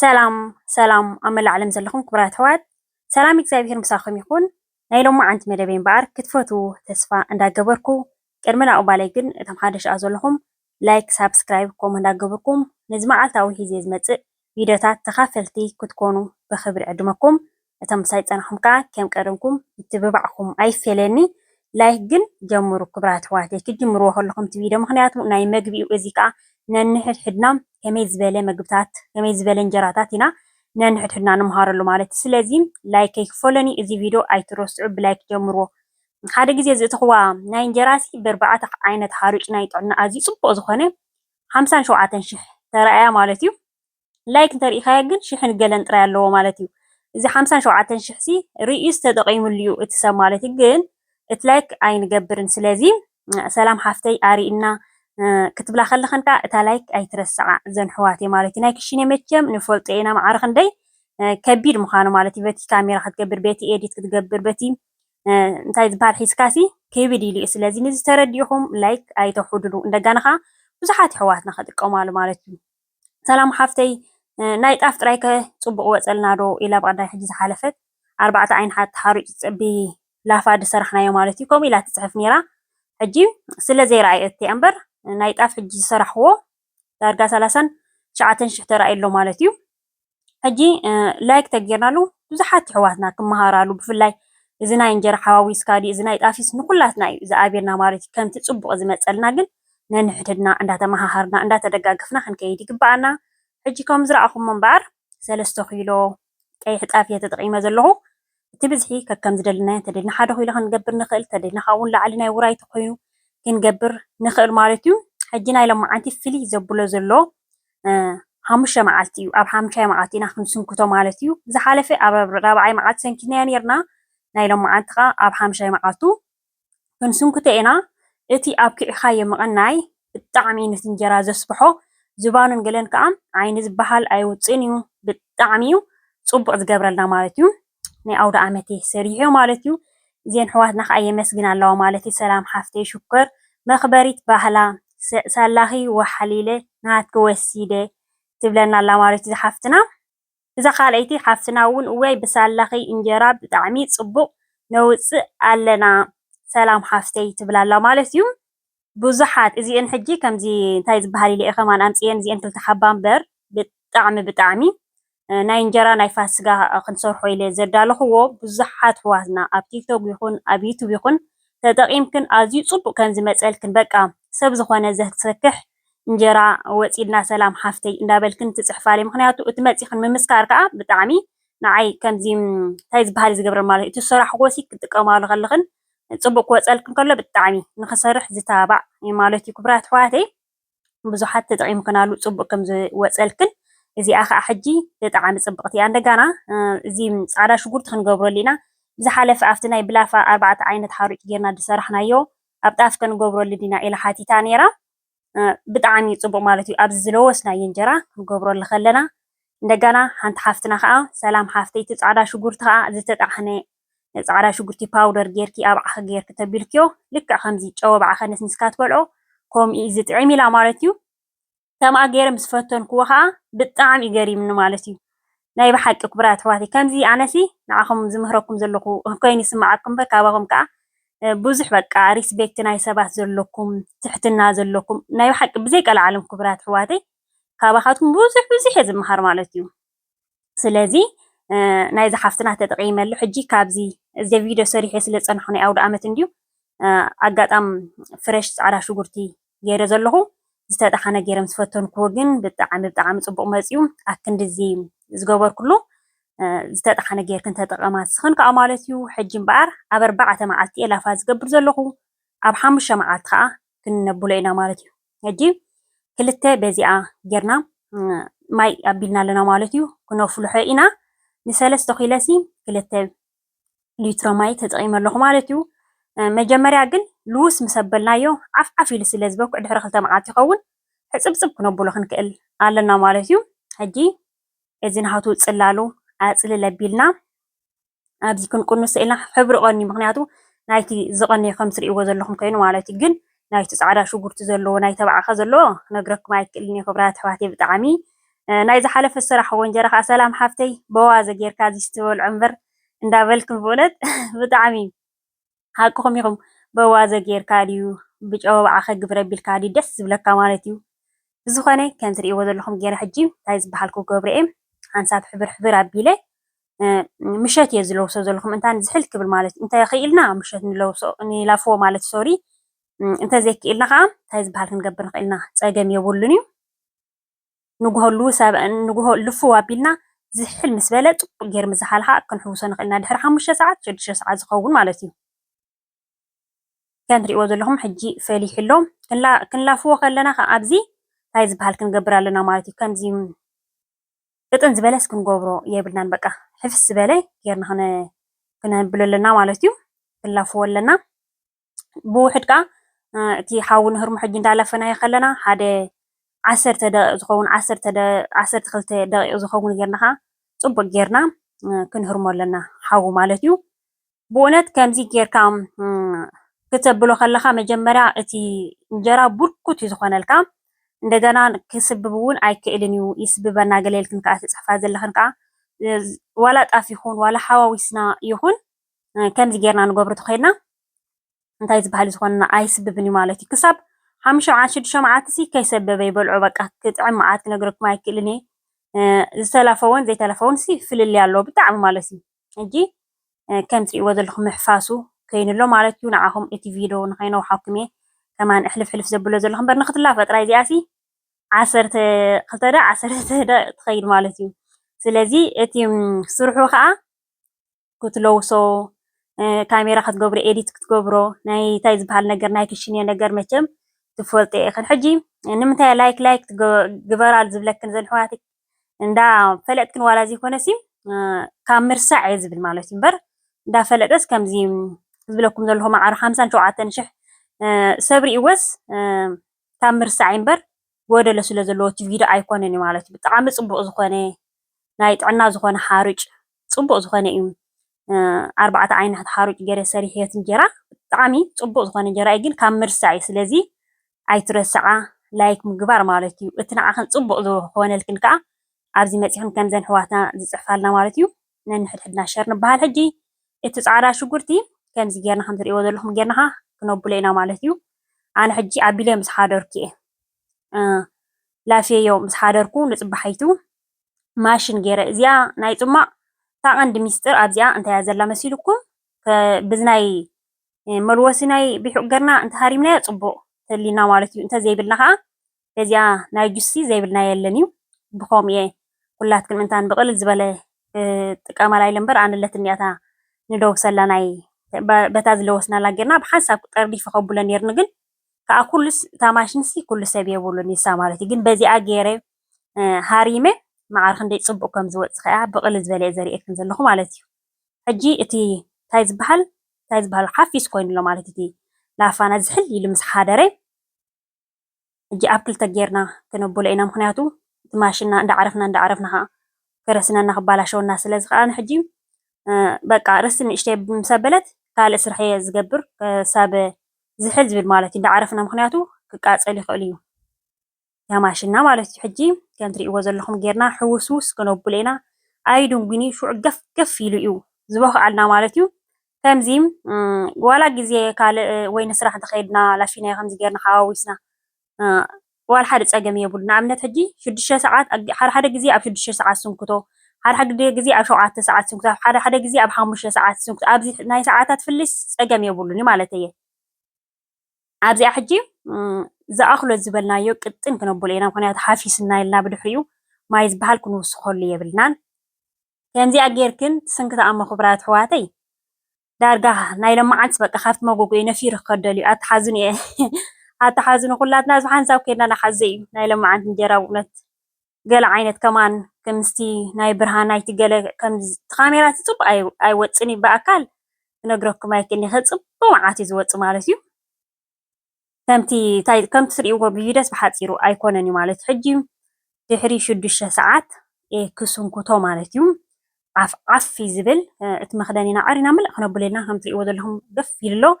ሰላም ሰላም ኣብ መላእ ዓለም ዘለኹም ክቡራት ኣሕዋት ሰላም እግዚኣብሄር ምሳኹም ይኹን። ናይ ሎማዓንቲ መደበይ እምበኣር ክትፈትዉ ተስፋ እንዳገበርኩ ቅድሚ ናቕባለይ ግን እቶም ሓደሽ ኣ ዘለኹም ላይክ ሳብስክራይብ ከምኡ እንዳገብርኩም ነዚ መዓልታዊ ሒዜ ዝመጽእ ቪድዮታት ተኻፈልቲ ክትኮኑ ብኽብሪ ዕድመኩም እቶም ምሳይ ዝጸናሕኩም ከኣ ከም ቀደምኩም ምትብባዕኩም ኣይፈለየኒ ላይክ ግን ጀምሩ ክብራት ኣሕዋተይ ክትጅምርዎ ከለኩም ቲቪዶ ምክንያቱ ናይ መግቢ ዩ እዚ ከኣ ነንሕድሕድና ከመይ ዝበለ መግብታት ከመይ ዝበለ እንጀራታት ኢና ነንሕድሕድና ንምሃረሉ ማለት ዩ ስለዚ ላይክ ከይክፈለኒ እዚ ቪዶ ኣይትረስዑ ብላይክ ጀምርዎ ሓደ ግዜ ዝእተክዋ ናይ እንጀራ ሲ በርባዕተ ዓይነት ሓሩጭ ናይ ጥዕና ኣዝዩ ጽቡቅ ዝኮነ ሓምሳን ሸውዓተን ሽሕ ተራእያ ማለት ዩ። ላይክ እንተሪኢኻዮ ግን ሽሕን ገለን ጥራይ ኣለዎ ማለት ዩ እዚ ሓምሳን ሸውዓተን ሽሕ ሲ ሪኢዩስ ተጠቂምሉ ዩ እቲ ሰብ ማለት ዩ ግን እቲ ላይክ ኣይንገብርን ስለዚ ሰላም ሓፍተይ ኣሪኢና ክትብላ ከለኸን ከዓ እታ ላይክ ኣይትረስዓ እዘን ሕዋቴ ማለት ዩ ናይ ክሽኔ መቸም ንፈልጦ ኢና ማዕረ ክንደይ ከቢድ ምዃኑ ማለት ዩ በቲ ካሜራ ክትገብር በቲ ኤዲት ክትገብር በቲ እንታይ ዝበሃል ሒዝካሲ ክብድ ኢሉ እዩ ስለዚ ንዚ ተረዲእኹም ላይክ ኣይተውሕድሉ እንደጋና ከዓ ብዙሓት ኣሕዋትና ክጥቀማሉ ማለት እዩ ሰላም ሓፍተይ ናይ ጣፍ ጥራይ ከ ጽቡቅ ይወጸልና ዶ ኢላ ብቀዳይ ሕጂ ዝሓለፈት ኣርባዕተ ዓይንሓ ተሓሪጩ ብ ላፋ ድሰራሕናዮ ማለት እዩ ከምኡ ኢላ ትጽሕፍ ኔራ ሕጂ ስለ ዘይረኣየቶ እያ እምበር ናይ ጣፍ ሕጂ ዝሰራሕክዎ ዳርጋ ሰላሳን ትሽዓተን ሽሕ ተራእዩ ኣሎ ማለት እዩ ሕጂ ላይክ ተጌርናሉ ብዙሓት የሕዋትና ክመሃራሉ ብፍላይ እዚ ናይ እንጀራ ሓዋዊስካ ድዩ እዚ ናይ ጣፍስ ንኩላትና እዩ ዝኣብየና ማለት እዩ። ከምቲ ጽቡቕ ዝመጸልና ግን ነንሕድሕድና እንዳተመሃሃርና እንዳተደጋገፍና ክንከይድ ይግበኣና። ሕጂ ከም ዝረኣኹሞ እምበኣር ሰለስተ ኪሎ ቀይሕ ጣፍ እየ ተጠቒመ ዘለኹ። እቲ ብዝሒ ከከም ዝደለናዮ እንተደሊና ሓደ ኪሎ ክንገብር ንክእል እንተደሊና ካብኡ ውን ንላዕሊ ናይ ውራይ ተኮይኑ ክንገብር ንክእል ማለት ዩ። ሕጂ ናይ ሎምዓንቲ ፍልይ ዘብሎ ዘሎ ሓሙሽተ መዓልቲ ዩ ኣብ ሓምሻይ መዓልቲ ኢና ክንስንክቶ ማለት ዩ። ዝሓለፈ ኣብ ራብዓይ መዓልቲ ሰንኪትናዮ ኔርና ናይ ሎምዓንቲ ከኣ ኣብ ሓምሻይ መዓልቱ ክንስንኩቶ ኢና እቲ ኣብኪዕኻዮ ምቕናይ ብጣዕሚ ዩ ንቲ እንጀራ ዘስብሖ ዝባኑን ገለን ከኣ ዓይኒ ዝባሃል ኣይውጽእን ዩ ብጣዕሚ ዩ ጽቡቕ ዝገብረልና ማለት ዩ ናይ ኣውዳኣመተይ ሰሪሑ ማለት ዩ እዘን ኣሕዋትና ከኣ የመስግና ኣለዋ ማለት ዩ ሰላም ሓፍተይ ሽኮር መኽበሪት ባህላ ሳላኺ ወሓሊለ ናሃትኪ ወሲደ ትብለና ኣላ ማለት ዩ ዝሓፍትና እዛ ካልኣይቲ ሓፍትና ውን እዋይ ብሳላኺ እንጀራ ብጣዕሚ ፅቡቅ ነውፅእ ኣለና ሰላም ሓፍተይ ትብል ኣላ ማለት እዩ ብዙሓት እዚኤን ሕጂ ከምዚ እንታይ ዝባሃል ኢለ እየ ከማን ኣምፅኤን እዚኤን ክልተ ሓባ እምበር ብጣዕሚ ብጣዕሚ ናይ እንጀራ ናይ ፋስጋ ክንሰርሖ ኢለ ዘዳለኹዎ ብዙሓት ኣሕዋትና ኣብ ቲክቶክ ይኹን ኣብ ዩቱብ ይኹን ተጠቂምክን ኣዝዩ ፅቡቅ ከምዝመፀልክን በቃ ሰብ ዝኾነ ዘስክሕ እንጀራ ወፂ ኢልና ሰላም ሓፍተይ እንዳበልክን ትፅሕፋለይ ምክንያቱ እቲ መፂክን ምምስካር ከዓ ብጣዕሚ ንዓይ ከምዚ እንታይ ዝበሃል እዩ ዝገብረ ማለት እቲ ዝሰራሕክዎ ሲ ክትጥቀማሉ ከለክን ፅቡቅ ክወፀልክን ከሎ ብጣዕሚ ንክሰርሕ ዝተባባዕ እዩ ማለት እዩ ክቡራት ኣሕዋተይ ብዙሓት ተጠቂምክናሉ ፅቡቅ ከም ዝወፀልክን እዚኣ ከዓ ሕጂ ብጣዕሚ ፅብቅቲ እያ እንደጋና እዚ ፃዕዳ ሽጉርቲ ክንገብረሉ ኢና ብዝሓለፈ ኣብቲ ናይ ብላፋ ኣርባዕተ ዓይነት ሓሩጭ ጌርና ዝሰራሕናዮ ኣብ ጣፍ ከንገብረሉ ዲና ኢላ ሓቲታ ኔራ ብጣዓሚ ጽቡቅ ማለት እዩ ኣብዚ ዝለወስናዬ እንጀራ ክንገብረሉ ከለና እንደጋና ሓንቲ ሓፍትና ከኣ ሰላም ሓፍተይ እቲ ጻዕዳ ሽጉርቲ ከኣ ዝተጣሕነ ጻዕዳ ሽጉርቲ ፓውደር ጌርኪ ኣብ ዓኺ ጌርኪ ተቢልክዮ ልክዕ ከምዚ ጨወብዓ ከነስኒስካ ትበልዖ ኮምኡ እዩ ዝጥዒም ኢላ ማለት እዩ ከምኣ ገይረ ምስ ፈተንክዎ ከኣ ብጣዕሚ እዩ ገሪምኒ ማለት እዩ ናይ ብሓቂ ኩቡራት ኣሕዋተይ ከምዚ ኣነሲ ንዓኹም ዝምህረኩም ዘለኹ ኮይኑ ይስምዓኩም እምበር ካባኹም ከኣ ብዙሕ በቃ ሪስቤክት ናይ ሰባት ዘለኩም ትሕትና ዘለኩም ናይ ብሓቂ ብዘይ ቀልዓለም ኩቡራት ኣሕዋተይ ካባኻትኩም ብዙሕ ብዙሕ እየ ዝምሃር ማለት እዩ። ስለዚ ናይዛ ሓፍትና ተጠቂመሉ ሕጂ ካብዚ እዚ ቪድዮ ሰሪሐ ስለ ዝጸናሕኩ ናይ ኣውደኣመት እንድዩ ኣጋጣም ፍረሽ ጻዕዳ ሽጉርቲ ገይረ ዘለኹ ዝተጣሓነ ገይረ ምስ ፈተንኩዎ ግን ብጣዕሚ ብጣዕሚ ጽቡቕ መጽዩ ኣክንድዚ ዝገበርኩሉ ዝተጣሓነ ጌርክን ተጠቐማ ስኽን ከዓ ማለት እዩ ሕጂ እምበኣር ኣብ ኣርባዕተ መዓልቲ እየ ላፋ ዝገብር ዘለኹ ኣብ ሓሙሽተ መዓልቲ ከዓ ክንነብሎ ኢና ማለት እዩ ሕጂ ክልተ በዚኣ ጌርና ማይ ኣቢልና ኣለና ማለት እዩ ክነፍልሖ ኢና ንሰለስተ ኪለሲ ክልተ ሊትሮ ማይ ተጠቒመ ኣለኹ ማለት እዩ መጀመርያ ግን ልውስ ምስ ኣበልናዮ ዓፍ ዓፍ ኢሉ ስለ ዝበኩዕ ድሕሪ ክልተ መዓልቲ ይኸውን ሕፅብፅብ ክነብሎ ክንክእል ኣለና ማለት እዩ ሕጂ እዚ ናሃቱ ፅላሉ ኣፅልል ኣቢልና ኣብዚ ክንቁንሶ ኢልና ሕብሪ ቀንዩ ምክንያቱ ናይቲ ዝቀነየ ከም ትሪእዎ ዘለኩም ኮይኑ ማለት እዩ ግን ናይቲ ጻዕዳ ሽጉርቲ ዘለዎ ናይ ተባዕ ከ ዘለዎ ክነግረኩም ኣይክእልን እየ ክብራት ኣሕዋተይ ብጣዕሚ ናይ ዝሓለፈ ዝሰራሕዎ እንጀራ ከዓ ሰላም ሓፍተይ በዋዘ ጌርካ እዚ ስትበልዖ እምበር እንዳበልክን ብእውነት ብጣዕሚ ሓቅኹም ኢኹም በዋዘ ጌርካ ድዩ ብጨወብዓኸ ግብር ኣቢልካ ድዩ ደስ ዝብለካ ማለት እዩ ብዝኾነ ከምዚ ርእይዎ ዘለኹም ጌረ ሕጂ እንታይ ዝበሃል ክገብሮ እየ ሓንሳብ ሕብር ሕብር ኣቢለ ምሸት እየ ዝለውሶ ዘለኹም እንታን ዝሕል ክብል ማለት እንተ ክኢልና ምሸት ንለውሶ ንላፍዎ ማለት ሶሪ እንተዘይክኢልና ከዓ እንታይ ዝበሃል ክንገብር ንኽእልና ፀገም የብሉን እዩ ንጉሆ ልፍው ኣቢልና ዝሕል ምስ በለ ጽቡቕ ጌሩ ምስ ዝሓልሓ ክንሕውሶ ንኽእል ኢና። ድሕሪ ሓሙሽተ ሰዓት፣ ሽዱሽተ ሰዓት ዝኸውን ማለት እዩ። ከም ትርእይዎ ዘለኹም ሕጂ ፈሊሑ ኣሎ። ክንላፍዎ ከለና ከኣ ኣብዚ እንታይ ዝበሃል ክንገብር ኣለና ማለት እዩ። ከምዚ ቅጥን ዝበለስ ክንገብሮ የብልናን። በቃ ሕፍስ ዝበለ ጌርና ክነብሎ ኣለና ማለት እዩ። ክንላፍዎ ኣለና። ብውሕድ ከኣ እቲ ሓዊ ንህርሞ ሕጂ እንዳለፈናዮ ከለና ሓደ ዓሰርተ ደቂቅ ዝኸውን ዓሰርተ ክልተ ደቂቅ ዝኸውን ጌርና ከኣ ጽቡቅ ጌርና ክንህርሞ ኣለና ሓዊ ማለት እዩ። ብእውነት ከምዚ ጌርካ ክተብሎ ከለኻ መጀመርያ እቲ እንጀራ ቡርኩት እዩ ዝኾነልካ እንደገና ክስብብ እውን ኣይክእልን እዩ ይስብበና ገለ ኢልክን ከዓ ትፅሕፋ ዘለኽን ከዓ ዋላ ጣፍ ይኹን ዋላ ሓዋዊስና ይኹን ከምዚ ጌርና ንገብሮ ተኾይንና እንታይ ዝበሃል ዝኾንና ኣይስብብን እዩ ማለት እዩ። ክሳብ ሓሙሽተ መዓልቲ ሽዱሽተ መዓልቲሲ ከይሰበበ ይበልዖ በቃ ክጥዕም መዓት ክነግረኩም ኣይክእልን እየ ዝተለፈወን ዘይተለፈወን ሲ ፍልልይ ኣለዎ ብጣዕሚ ማለት እዩ ሕጂ ከም ትሪእዎ ዘለኹም ምሕፋሱ ከይኑ ኣሎ ማለት እዩ ንዓኹም እቲ ቪድዮ ንኸይነውሓኩም እየ ከማን እሕልፍ ሕልፍ ዘብሎ ዘለኹ እምበር ንክትላፈ ጥራይ እዚኣ ሲ ዓሰርተ ክልተ ደ ዓሰርተ ደ ትኸይድ ማለት እዩ ስለዚ እቲ ስርሑ ከዓ ክትለውሶ ካሜራ ክትገብሮ ኤዲት ክትገብሮ ናይ እንታይ ዝበሃል ነገር ናይ ክሽኔ ነገር መቸም ትፈልጦ ኢኽን ሕጂ ንምንታይ ላይክ ላይክ ግበራል ዝብለክን ዘን ሕዋት እንዳ ፈለጥክን ዋላ ዘይኮነሲ ካብ ምርሳዕ እየ ዝብል ማለት እዩ እምበር እንዳ ፈለጠስ ከምዚ ዝብለኩም ዘለኹ ማዕረ ሓምሳን ሸውዓተን ሽሕ ሰብ ሪእወስ ካብ ምርሳዕይ እምበር ጎደሎ ስለ ዘለዎ እቲ ቪድዮ ኣይኮነን እዩ ማለት እዩ። ብጣዕሚ ጽቡቅ ዝኮነ ናይ ጥዕና ዝኮነ ሓሩጭ ጽቡቅ ዝኮነ እዩ ኣርባዕተ ዓይነሕት ሓሩጭ ገረ ሰሪሕዮ እቲ እንጀራ ብጣዕሚ ጽቡቅ ዝኮነ እንጀራ እዩ ግን ካብ ምርሳዕ እዩ ስለዚ ኣይትረስዓ ላይክ ምግባር ማለት እዩ እቲ ንዓክን ጽቡቅ ዝኮነልክን ከኣ ኣብዚ መጺክን ከምዘን ኣሕዋትና ዝጽሕፋልና ማለት እዩ። ነንሕድሕድና ሸር ንበሃል ሕጂ እቲ ጻዕዳ ሽጉርቲ ከምዚ ጌርና ከምዚ ትርእይዎ ዘለኹም ጌርና ከኣ ክነብሎ ኢና ማለት እዩ ኣነ ሕጂ ኣቢለ ምስ ሓደርኩ እየ ላፍየዮ ምስ ሓደርኩ ንጽባሒቱ ማሽን ጌረ እዚኣ ናይ ጽማቕ እታ ቀንዲ ሚስጥር ኣብዚኣ እንታይ እያ ዘላ መሲልኩም ብዝናይ መልወሲ ናይ ቢሑቕ ገርና እንተሃሪምናዮ ጽቡቕ ተሊና ማለት እዩ እንተዘይብልና ከኣ በዚኣ ናይ ጁሲ ዘይብልና የለን እዩ ብከምኡ እየ ኩላትክን እንታ ብቅልል ዝበለ ጥቀማላ ኢለ እምበር ኣነ ኣለትኒ እያ እታ ንደውሰላ ናይ በታ ዝለወስናላ ጌርና ብሓንሳብ ጠርኒፈ ከብሎ ነይርኒ ግን ከዓ ኩሉስ እታ ማሽንሲ ኩሉ ሰብ የብሉን ይሳ ማለት እዩ ግን በዚኣ ገይረ ሃሪመ መዓር ክንደይ ፅቡቅ ከም ዝወፅ ከዓ ብቅልል ዝበለ እየ ዘርእየክን ዘለኹ ማለት እዩ ሕጂ እቲ እንታይ ዝበሃል እንታይ ዝበሃል ሓፊስ ኮይኑሎ ማለት እቲ ላፋና ዝሕል ኢሉ ምስ ሓደረ ሕጂ ኣብ ክልተ ጌርና ክነብሎ ኢና ምኽንያቱ እቲ ማሽንና እንዳዕረፍና እንዳዕረፍና ኸኣ ከረስነና ክባላሸወና ስለ ዝኸኣለ ሕጂ በቃ ርስቲ ንእሽተይ ምስ ኣበለት ካልእ ስራሕ እየ ዝገብር ክሳብ ዝሕል ዝብል ማለት እዩ እንዳዕረፍና ምኽንያቱ ክቃጸል ይኽእል እዩ እታ ማሽንና ማለት እዩ ሕጂ ከም ትርእይዎ ዘለኹም ጌርና ሕውስውስ ክነብሎ ኢና ኣይድንጉን እዩ ሽዑ ገፍ ገፍ ኢሉ እዩ ዝበኽዓልና ማለት እዩ ከምዚ ዋላ ግዜ ካልእ ወይ ንስራሕ እንተ ኸይድና ላሽናዮ ከምዚ ጌርና ሓዋዊስና ዋላ ሓደ ጸገም የብሉን። ንኣብነት ሕጂ ሽዱሽተ ሰዓት ሓደ ሓደ ግዜ ኣብ ሽዱሽተ ሰዓት ስንክቶ፣ ሓደ ሓደ ግዜ ኣብ ሸውዓተ ሰዓት ስንክቶ፣ ሓደ ሓደ ግዜ ኣብ ሓሙሽተ ሰዓት ስንክቶ፣ ኣብዚ ናይ ሰዓታት ፍልልይስ ጸገም የብሉን እዩ ማለት እየ። ኣብዚኣ ሕጂ ዝኣኽሎ ዝበልናዮ ቅጥን ክነብሎ ኢና፣ ምኽንያቱ ሓፊስና ኢልና ብድሕሪኡ ማይ ዝበሃል ክንውስኸሉ የብልናን። ከምዚኣ ጌርክን ትስንክቲ ኣሞ ክብራት ኣሕዋተይ ዳርጋ ናይ ለማዓንቲ በቃ ካብቲ መጎጎይ ነፊሩ ክከድ ደልዩ ኣታ ሓዙን እየ ኣታ ሓዙን ኩላትና ብ ሓንሳብ ከድና ናሓዘ እዩ ናይ ለማዓንቲ እንጀራ ብእውነት ገለ ዓይነት ከማን ከምስቲ ናይ ብርሃናይቲ ገለ ከምዚ ካሜራ ጽቡቅ ኣይወጽን እዩ ብኣካል ክነግረኩም ኣይክእልንከ ጽቡቅ መዓት እዩ ዝወጽእ ማለት እዩ ከምቲ ታይ ከምቲ ትሪእዎ ብቪደስ ብሓፂሩ ኣይኮነን እዩ ማለት ሕጂ ድሕሪ ሽዱሽተ ሰዓት ክስንኩቶ ማለት እዩ ዓፍ ዓፍ እዩ ዝብል እቲ መኽደኒና ዓሪና ምልእ ክነብለልና ከም ትሪእዎ ዘለኹም ገፍ ኢሉ ኣሎ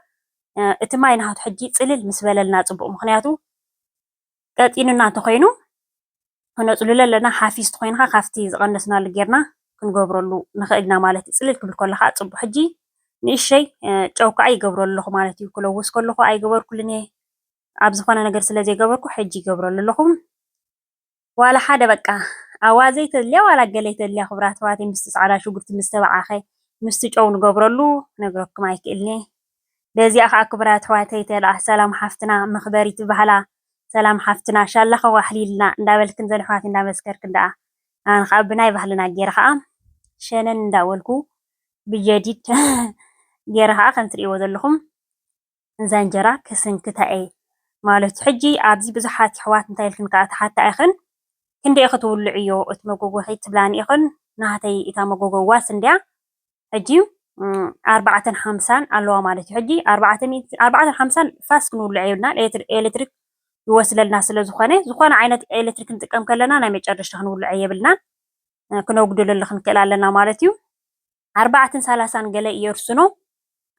እቲ ማይ ናሃቱ ሕጂ ፅልል ምስ በለልና ፅቡቅ ምክንያቱ ቀጢኑና እንተኾይኑ ክነፅልሎ ኣለና። ሓፊስ እንተኾይኑ ኸዓ ካብቲ ዝቐነስናሉ ጌርና ክንገብረሉ ንኽእል ኢና ማለት እዩ። ፅልል ክብል ከሎ ኸዓ ፅቡቕ ሕጂ ንእሸተይ ጨው ከዓ ይገብረሉ ኣለኹ ማለት እዩ። ክለውስ ከለኹ ኣይገበርኩሉን እየ ኣብ ዝኾነ ነገር ስለ ዘይገበርኩ ሕጂ ይገብረሉ ኣለኹ። ዋላ ሓደ በቃ ኣዋዘ ይተድልያ ዋላ ገለ ይተድልያ ክቡራት ኣሕዋተይ ምስቲ ፃዕዳ ሽጉርቲ ምስ ተበዓኸ ምስቲ ጨው ንገብረሉ ክነግረኩም ኣይክእልን እየ። በዚኣ ከኣ ክቡራት ኣሕዋተይ ተልኣ ሰላም ሓፍትና መኽበሪት ባህላ ሰላም ሓፍትና ሻላኺ ዋሕሊልና እንዳበልክን ዘን ኣሕዋተይ እንዳመስከርክን ደኣ ኣነ ከኣ ብናይ ባህልና ጌረ ከኣ ሸነን እንዳበልኩ ብጀዲድ ጌረ ከኣ ከም ትርእይዎ ዘለኹም እዛ እንጀራ ክስንክታ እየ ማለቱ ሕጂ ኣብዚ ብዙሓት ኣሕዋት እንታይ ኢልክን ከኣ ትሓታ ኢኽን ክንደይ ኢኺ ትውልዕዮ እቲ መጎጎኺ ትብላኒ ኢኽን ናህተይ እታ መጎጎዋስ እንድያ ሕጂ ኣርባዕተን ሓምሳን ኣለዋ ማለት እዩ። ሕጂ ኣርባዕተ ሚእቲ ኣርባዕተን ሓምሳን ፋስ ክንውልዕ የብልናን ኤሌክትሪክ ይወስለልና ስለ ዝኾነ ዝኾነ ዓይነት ኤሌክትሪክ ክንጥቀም ከለና ናይ መጨረሻ ክንውልዐ የብልናን ክነጉድለሉ ክንክእል ኣለና ማለት እዩ። ኣርባዕተን ሰላሳን ገለ የርስኖ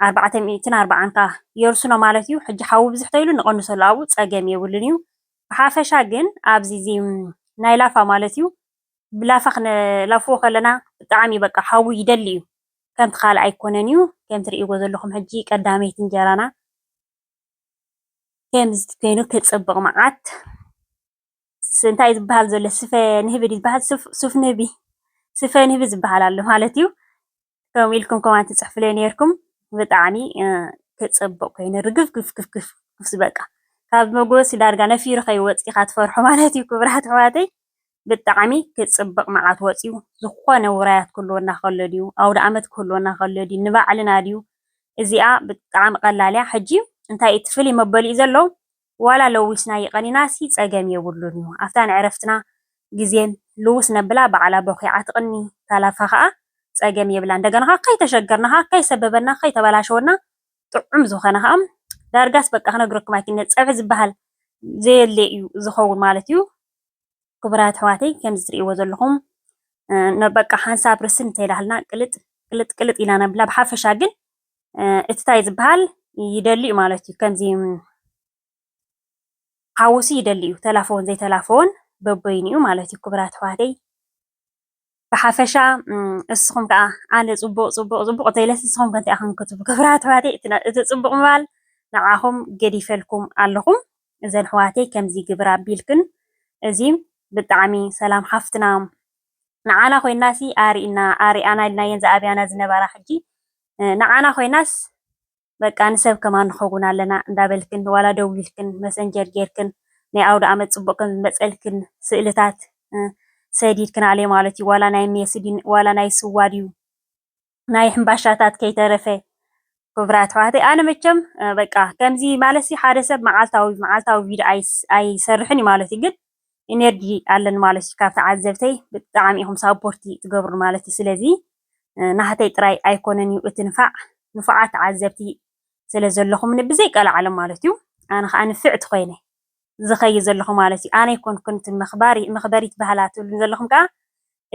ኣርባዕተ ሚእትን ኣርባዓን ከዓ የርስኖ ማለት እዩ። ሕጂ ሓዊ ብዝሕ ተይሉ ንቐንሰሉ ኣብኡ ፀገም የብሉን እዩ። ብሓፈሻ ግን ኣብዚ እዚ ናይ ላፋ ማለት እዩ ብላፋ ክነላፍዎ ከለና ብጣዕሚ በቃ ሓዊ ይደሊ እዩ ከምቲ ካልእ ኣይኮነን እዩ ከም ትርእይዎ ዘለኹም ሕጂ ቀዳመይቲ እንጀራና ከምዚ ኮይኑ ክጽብቕ መዓት እንታይ ዝበሃል ዘሎ ስፈ ንህቢ ዝበሃል ሱፍ ንህቢ ስፈ ንህቢ ዝበሃል ኣሎ ማለት እዩ ከምኡ ኢልኩም ኮማንት ትፅሕፉለይ ኔርኩም ብጣዕሚ ክፅብቕ ኮይኑ ርግፍግፍግፍግፍ በቃ ካብ መጎሲ ዳርጋ ነፊሩ ከይወፅእ ኢኻ ትፈርሖ ማለት እዩ ክብራት ኣሕዋተይ ብጣዕሚ ክፅብቕ መዓት ወፅዩ ዝኾነ ውራያት ክህልወና ከሎ ድዩ ኣውደ ኣመት ክህልወና ከሎ ድዩ ንባዕልና ድዩ እዚኣ ብጣዕሚ ቀላል እያ ሕጂ እንታይ እቲ ፍልይ መበሊኡ ዘሎ ዋላ ለዊስና ይቀኒናሲ ጸገም የብሉን ዩ ኣፍታ ንዕረፍትና ግዜን ልውስ ነብላ ባዕላ ቦኪዓ ትቅኒ ታላፋ ከኣ ጸገም የብላን እንደገና ከኣ ከይተሸገርና ከኣ ከይሰበበና ከይተበላሸወና ጥዑም ዝኮነ ከኣ ዳርጋስ በቃ ክነግረኩም ኣይክእልን ጸብሒ ዝበሃል ዘየለ ዩ ዝከውን ማለት ዩ ክቡራት ኣሕዋተይ ከምዚ ትርእይዎ ዘለኩም በቃ ሓንሳብ ርስን እንተይላሃልና ቅልጥ ቅልጥ ቅልጥ ኢና ነብላ ብሓፈሻ ግን እቲ ታይ ዝብሃል ይደሊ እዩ ማለት እዩ ከምዚ ሓውሲ ይደሊ እዩ ተላፈወን ዘይተላፈወን በበይኑ እዩ ማለት እዩ ክቡራት ኣሕዋተይ ብሓፈሻ እስኹም ከዓ ኣነ ፅቡቅ ፅቡቅ ፅቡቅ እንተይለስ ንስኹም ከ እንታይ ኢኹም ክትብሉ ክብራት ኣሕዋተይ እቲ ፅቡቅ ምባል ንዓኹም ገዲፈልኩም ኣለኹም እዘን ኣሕዋተይ ከምዚ ግብራ ቢልክን እዚ ብጣዕሚ ሰላም ሓፍትና ንዓና ኮይናሲ ኣሪእና ኣሪኣና ኢልናየን ዝኣብያና ዝነባራ ሕጂ ንዓና ኮይናስ በቃ ንሰብ ከማን ንከውን ኣለና እንዳበልክን ዋላ ደዊልክን መሰንጀር ጌርክን ናይ ኣውድኣመት ጽቡቅ ከም ዝመጸልክን ስእልታት ሰዲድክናሌ ማለትዩ ዋላ ናይ ሜስድን ዋላ ናይ ስዋ ድዩ ናይ ሕምባሻታት ከይተረፈ ክብራት ኣሕዋተይ ኣነ መቸም በቃ ከምዚ ማለት ሲ ሓደ ሰብ መዓልታዊ መዓልታዊ ቪድዮ ኣይሰርሕን እዩ ማለት እዩ ግን ኢነርጂ ኣለን ማለት እዩ ካብ ተዓዘብተይ ብጣዕሚ ኢኹም ሳፖርቲ ትገብሩ ማለት እዩ ስለዚ ናህተይ ጥራይ ኣይኮነን እዩ እቲ ንፋዕ ንፉዓት ተዓዘብቲ ስለ ዘለኹምኒ ብዘይ ቀላዓለም ማለት እዩ ኣነ ከዓ ንፍዕቲ ኮይነ ዝኸይድ ዘለኹ ማለት እዩ። ኣነ ኣይኮንኩን እቲ መኽባሪ መኽበሪት ባህላ ትብሉኒ ዘለኹም ከኣ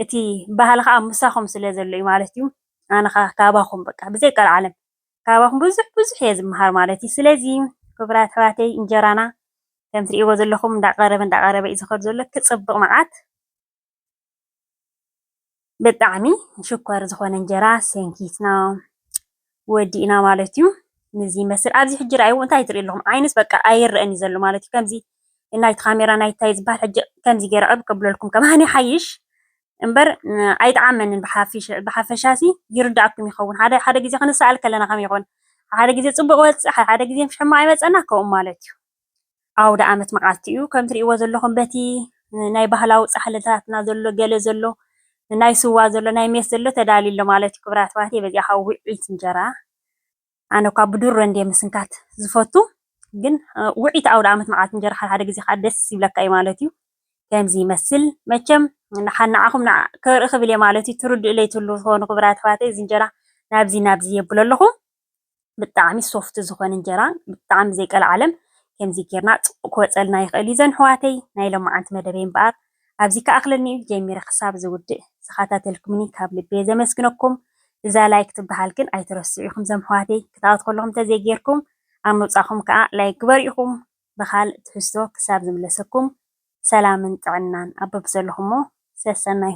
እቲ ባህሊ ከኣ ምሳኹም ስለ ዘሎ እዩ ማለት እዩ። ኣነ ከኣ ካባኹም በቃ ብዘይ ቀልዓለም ካባኹም ብዙሕ ብዙሕ እየ ዝመሃር ማለት እዩ። ስለዚ ክቡራት ኣሕዋተይ እንጀራና ከም ትርእይዎ ዘለኹም እንዳቐረበ እንዳቐረበ እዩ ዝኸድ ዘሎ ክጽብቕ መዓት ብጣዕሚ ሽኮር ዝኾነ እንጀራ ሰንኪትና ወዲእና ማለት እዩ። ንዚ ይመስል ኣብዚ ሕጂ ርኣይዎ እንታይ ትሪኡ ኣለኹም ዓይንስ በቃ ኣይረኣን እዩ ዘሎ ማለት እዩ። ከምዚ ናይቲ ካሜራ ናይታይ ዝበሃል ሕጂ ከምዚ ገይረ ዕብ ከብለልኩም ከማን ይሓይሽ እምበር ኣይጠዓመንን ብሓፈሻሲ ይርዳእኩም ይኸውን። ሓደ ሓደ ግዜ ክንሰኣል ከለና ከመይ ይኸውን ሓደ ግዜ ጽቡቕ ይወጽእ ሓደ ግዜ ሕማቕ ይመጸና ከምኡ ማለት እዩ። ኣውደኣመት መዓልቲ እዩ። ከም ትሪእዎ ዘለኹም በቲ ናይ ባህላዊ ጻሕልታትና ዘሎ ገለ ዘሎ ናይ ስዋ ዘሎ ናይ ሜስ ዘሎ ተዳልዩ ኣሎ ማለት እዩ። ክብራት ኣሕዋተይ በዚኣ ከዓ ውዕኢት እንጀራ ኣነ እኳ ብድሮ እንድየ ምስንካት ዝፈቱ ግን ውዕኢት ኣውደኣመት መዓልቲ እንጀራ ሓደ ሓደ ግዜ ከዓ ደስ ይብለካ እዩ ማለት እዩ። ከምዚ ይመስል መቸም ንዓኹም ከርኢ ክብል እየ ማለት እዩ። ትርድኡለይ ትህልዉ ትኾኑ ክብራት ኣሕዋተይ እዚ እንጀራ ናብዚ ናብዚ የብሎ ኣለኹ። ብጣዕሚ ሶፍት ዝኮነ እንጀራ ብጣዕሚ ዘይቀልዓለም ከምዚ ጌርና ጽቡቅ ክወጸልና ይክእል እዩ ዘን ሕዋተይ ናይ ሎማዓንቲ መደበይ እምበኣር ኣብዚ ክኣክለኒ እዩ ጀሚረ ክሳብ ዝውድእ ዝካታተልኩምኒ ካብ ልቢየ ዘመስግነኩም እዛ ላይክ ትብሃል ግን ኣይትረስዑ ኢኩም ዘም ሕዋተይ ክትኣቱ ከለኩም ተዘይ ጌርኩም ኣብ ምውጻኩም ከኣ ላይክ ግበሩ ኢኩም ብካልእ ትሕዝቶ ክሳብ ዝምለሰኩም ሰላምን ጥዕናን ኣብ በብዘለኩሞ ሰሰናዩ።